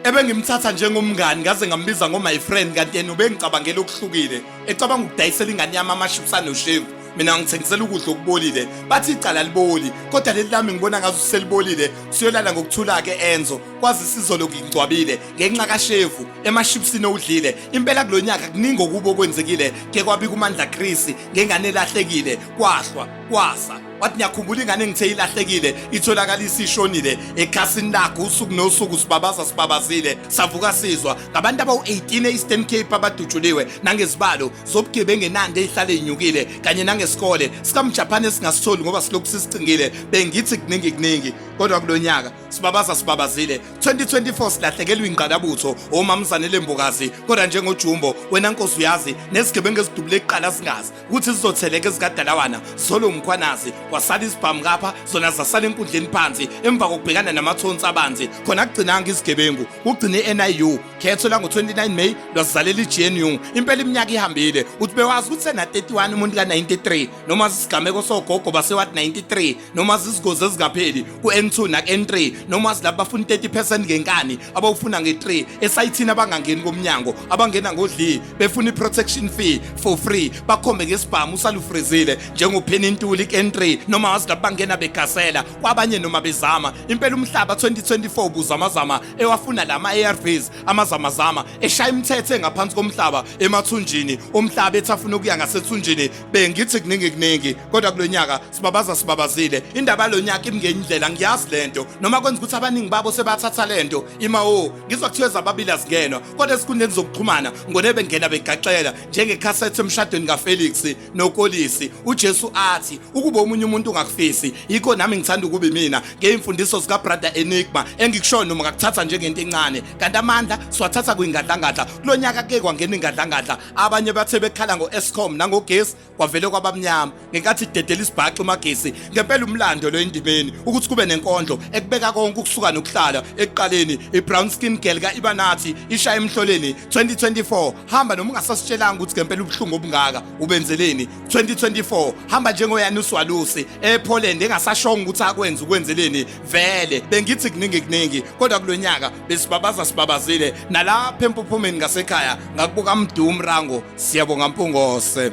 ebengimthatha njengomngani ngaze ngambiza ngo my friend kanti yena ubengicabangela okuhlukile ecabanga ukudayisela ingane yami amaships anoshevu mina ngithengisela ukudla okubolile bathi icala liboli kodwa leli lami ngibona ngazo selibolile siyolala ngokuthula-ke enzo kwazi sizolo ngingcwabile ngenxa kashevu emashipsini owudlile impela kulo nyaka kuningi okubo okwenzekile ke kwabika umandla krisi ngengane elahlekile kwahlwa kwasa wathi ngiyakhumbula ingane engithe ilahlekile itholakala isishonile ekhasini lakho usuku nosuku sibabaza sibabazile savuka sizwa ngabantu abawu-18 e-eastern cape abadutshuliwe nangezibalo zobugebi engenande eyihlale inyukile kanye nangesikole sikamjaphane esingasitholi ngoba silokhu sisicingile bengithi kuningi kuningi kodwa kulo nyaka sibabaza sibabazile 2024 silahlekelwa ingqalabutho omamzane lembokazi kodwa njengojumbo wena nkosi uyazi nezigebengu ezidubule kuqala zingazi ukuthi zizotheleka ezikadalawana zolo mkhwanazi kwasala isibhamu kapha zona zasala enkundleni phansi emva kokubhekana namathonsi abanzi khona kugcinanga izigebengu kugcine i-niu khetho lango-29 may lwazizalela i-gnu impela iminyaka ihambile uthi bewazi ukuthi sena-31 umuntu ka-93 noma sisigameko sogogo basewathi 93 noma zizigozi ezingapheli ku-n2 naku-n3 noma zilabo bafuna 30 percent ngenkani abawufuna nge-3 esayithini abangangeni komnyango abangena ngodli befuna i-protection fee for free bakhombe ngesibhamu usalufrizile njengopheni intuli ku-n3 noma wazilabo bangena begasela kwabanye noma bezama impela umhlaba 2024 buzamazama ewafuna la ma-arvs amazamazama eshaya imithetho engaphansi komhlaba emathunjini omhlaba ethi afuna ukuya ngasethunjini bengithi kuningi kuningi kodwa kulo nyaka Sibabaza sibabazile indaba lonyaka imngenyindlela ngiyazi lento noma kwenza ukuthi abaningi babo sebathatha lento ima o ngizwa kuthiwe zababili azingenwa kodwa esikhundleni zokuxhumana ngone bengena begaxela njengekhasethi emshadweni kaFelix noKolisi uJesu athi ukuba omunye umuntu ungakufisi yikho nami ngithanda ukuba mina ngeyimfundiso zika brother Enigma engikushoyo noma ngakuthatha njengento encane kanti amandla siwathatha kwingadlangadla kulonyaka ke kwangena ingadlangadla abanye bathe bekhala ngo Escom nangogesi kwavele kwabamnyama ngenkathi idedela isibhaxu magesi ngempela umlando lo endimeni ukuthi kube nenkondlo ekubeka konke ukusuka nokuhlala ekuqaleni ibrown skin girl kaibanathi ishaya emhloleni 2024 hamba noma ungasasitshelanga ukuthi ngempela ubuhlungu obungaka ubenzeleni 2024 hamba njengoyani uswalusi epoland engasashonga ukuthi akwenza ukwenzeleni vele bengithi kuningi kuningi kodwa kulonyaka besibabaza sibabazile nalapha empuphumeni ngasekhaya ngakubuka mdumu rango siyabonga mpungose